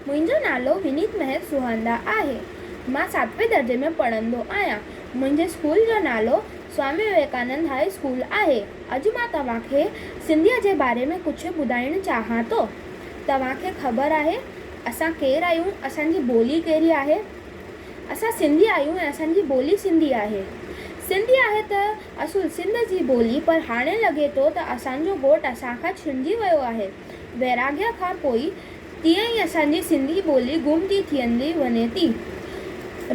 منهنجو نالو ونيت مهڪ سوهاندا آهي. مان ساتوين درجي ۾ پڙهندو آهيان. منهنجي اسڪول جو نالو سوامي وويڪانند هاء اسڪول آهي. اڄ مان توهان کي سنڌيء جي باري ۾ ڪجهه ٻڌائڻ چاهيان ٿو. توهان کي خبر آهي اسان ڪير آهيون؟ اسان جي ٻولي ڪهڙي آهي؟ اسان سنڌي آهيون ۽ اسان جي ٻولي سنڌي آهي. سنڌي آهي ته اصل سنڌ جي ٻولي پر هاڻي لڳي ٿو ته اسان جو ڳوٺ اسان کان ڇنڊجي ويو آهي. ويراڳيا کان پوء تيئن ئي اسان جي سنڌي ٻولي گم ٿي ٿيندي وڃي ٿي.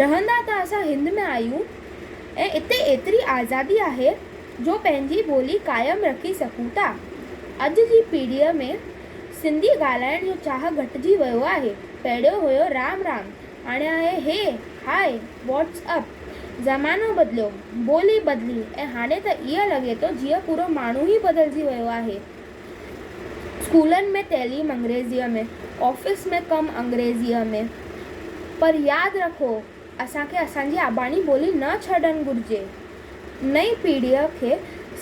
رهندا ته اسان هند ۾ آهيون ۽ اتي ايتري آزادي آهي جو پنهنجي ٻولي قائم رکي سگهون ٿا. اڄ جي پيڙهيء ۾ سنڌي ڳالهائڻ جو چاهه گهٽجي ويو آهي. پهريون هيو رام رام، هاڻي آهي هي، هاء، واٽس اپ. زمانو بدليو، ٻولي بدلي ۽ هاڻي ته ائين لڳي ٿو جيئن پورو ماڻهو ئي بدلجي ويو آهي. اسڪولن ۾ تعليم انگريزيء ۾، آفيس ۾ ڪم انگريزيء ۾، پر ياد رکو اسان کي اسان جي اباڻي ٻولي نه ڇڏڻ گهرجي. نئين پيڙهيء کي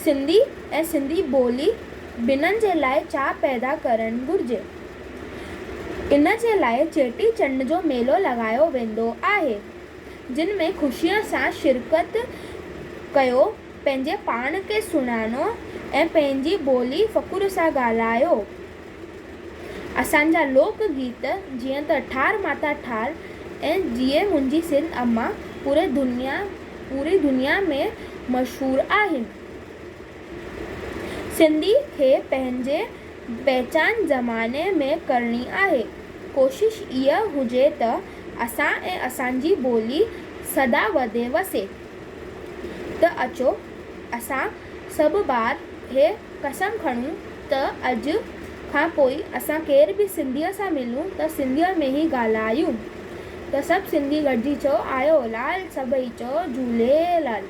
سنڌي ۽ سنڌي ٻولي ٻنهن جي لاء چاهه پيدا ڪرڻ گهرجي. ان جي لاء چيٽي چنڊ جو ميلو لڳايو ويندو آهي، جن ۾ خوشيء سان شرڪت ڪيو. پنهنجي پاڻ کي سڃاڻو ۽ پنهنجي ٻولي فخر سان ڳالهايو. اسان جا لوڪ گيت جيئن ته ٺار ماتا ٺار ۽ جيئي منهنجي سنڌ اماء پوري دنيا پوري دنيا ۾ مشهور آهن. سنڌي کي پنهنجي پهچان زماني ۾ ڪرڻي آهي. ڪوشش اها هجي ته اسان ۽ اسان جي ٻولي سدا وڌي وسي. ته اچو اسان سڀ ٻار هي قسم کڻون ته اڄ کان پوء اسان ڪير به سنڌيء سان ملون ته سنڌيء ۾ ئي ڳالهايون ته سڀ سنڌي گڏجي چئو آيو لال سڀئي چئو جهوليلال.